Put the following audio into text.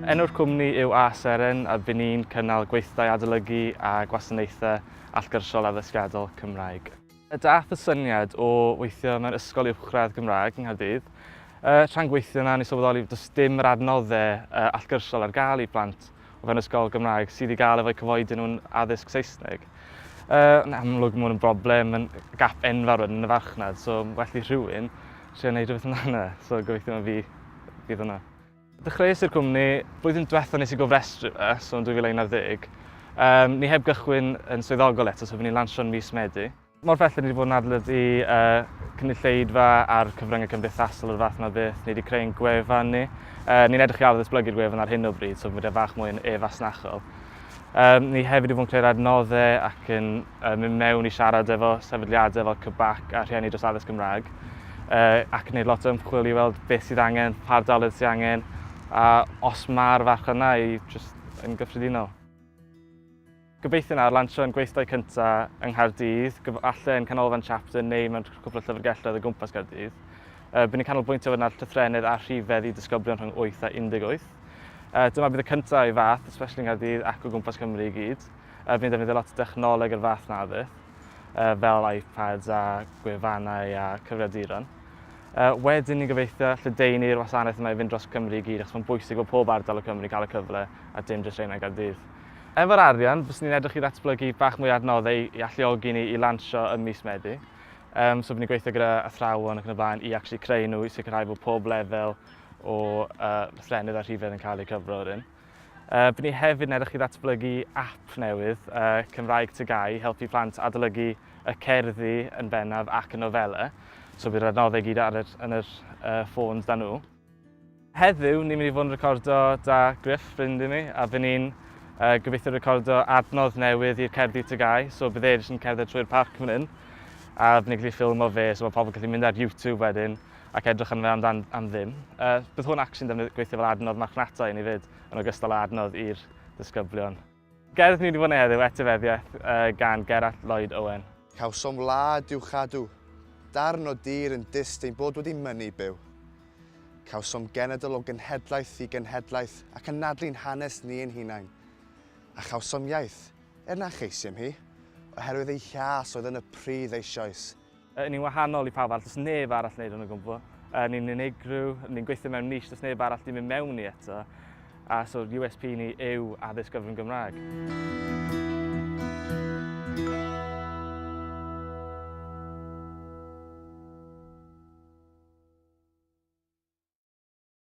Enw'r cwmni yw A Seren a by ni'n cynnal gweithdai adolygu a gwasanaethau allgyrsiol addysgiadol Cymraeg. Daeth y syniad o weithio mewn ysgol uwchradd Gymraeg yng Nghaerdydd. Tra'n gweithio yna o'n i'n sylweddoli does dim yr adnoddau allgyrsiol ar gael i blant. o fewn ysgol Gymraeg sydd i gael efo'u cyfoedi nhw'n addysg Saesneg. Uh, yn amlwg mae hwn yn broblem, yn gap enfawr yn y farchnad, so well i rhywun trio gwneud rhywbeth amdano, so gobeithio mae fi fydd hwnna. Dechreuais i'r cwmni, blwyddyn diwetha nes i gofrestru fe, so yn 2011. Um, ni heb gychwyn yn swyddogol eto, so fy ni'n lansio'n mis Medi. Mor bell rydyn ni wedi bod yn adlyd i cynulleidfa a'r cyfryngau cymdeithasol o'r fath yma beth. Ni wedi creu ein gwefan ni. Ni'n edrych i ail ddatblygu'r gwefan ar hyn o bryd, so bod e fach mwy yn e-fasnachol. Ni hefyd wedi bod yn creu'r adnoddau ac yn mynd mewn i siarad efo sefydliadau fel CBAC a rhieni dros addysg Gymraeg ac yn gwneud lot o ymchwil i weld beth sydd angen, pa ardaloedd sydd angen a os mae'r farchnad yna i just yn gyffredinol. Gobeithiwn ar lansio ein gweithdai cyntaf yng Nghaerdydd, gyfalle yn Canolfan Chapter neu mewn cwpl o llyfrgelloedd o gwmpas Caerdydd. Bydd ni'n canolbwyntio fod yna llythrennedd a rhifedd i disgyblion rhwng 8 a 18. Dyma bydd y cyntaf o'i fath, especially yng Nghaerdydd ac o gwmpas Cymru i gyd. Bydd ni'n defnyddio lot o dechnoleg o'r fath na fydd, fel iPads a gwefannau a cyfrifiaduron. Wedyn ni'n gobeithio lledaenu'r wasanaeth yma i fynd dros Cymru i gyd achos mae'n bwysig bod pob ardal o Cymru cael y cyfle a dim jyst rheina i Gaerdydd. Efo'r arian, fyswn ni'n edrych i ddatblygu bach mwy o adnoddau i alluogi ni i lansio ym mis Medi. Um, so, fy ni'n gweithio gyda athrawon ac yn y blaen i actually creu nhw, i sicrhau bod pob lefel o uh, llennydd a rhifedd yn cael eu cyfro ar un. Uh, byd ni hefyd yn edrych i ddatblygu app newydd, uh, Cymraeg Tygau, helpu plant adolygu y cerddi yn bennaf ac y nofelau. So bydd yr adnoddau gyd ar yr, yn yr uh, ffôns da nhw. Heddiw, ni'n mynd i fod yn recordo 'da Gruff, ffrind i mi, a fy ni'n uh, gobeithio recordo adnodd newydd i'r cerddi tygau, so bydd e jyst yn cerdded trwy'r parc fan hyn, a fy ni'n gallu ffilm o fe, so mae pobl gallu mynd ar YouTube wedyn ac edrych yn fe amdan am ddim. Uh, bydd hwn actually'n gweithio fel adnodd marchnata i ni fyd, yn ogystal â adnodd i'r disgyblion. Gerdd ni wedi bod yn heddiw, etifeddiaeth gan Gerallt Lloyd Owen. Cawsom wlad i'w chadw, darn o dir yn dyst ein bod wedi mynnu byw. Cawsom genedl o genhedlaeth i genhedlaeth ac anadlu'n hanes ni ein hunain. A chawsom iaith, er na cheisiem hi, oherwydd ei hiâs oedd yn y pridd eisioes. Yy ni'n wahanol i pawb arall, does neb arall wneud hwn o gwbl. Yy ni'n unigryw, ni'n gweithio mewn niche, does neb arall di mynd mewn i eto. A so USP ni yw addysg gyfrwng Gymraeg.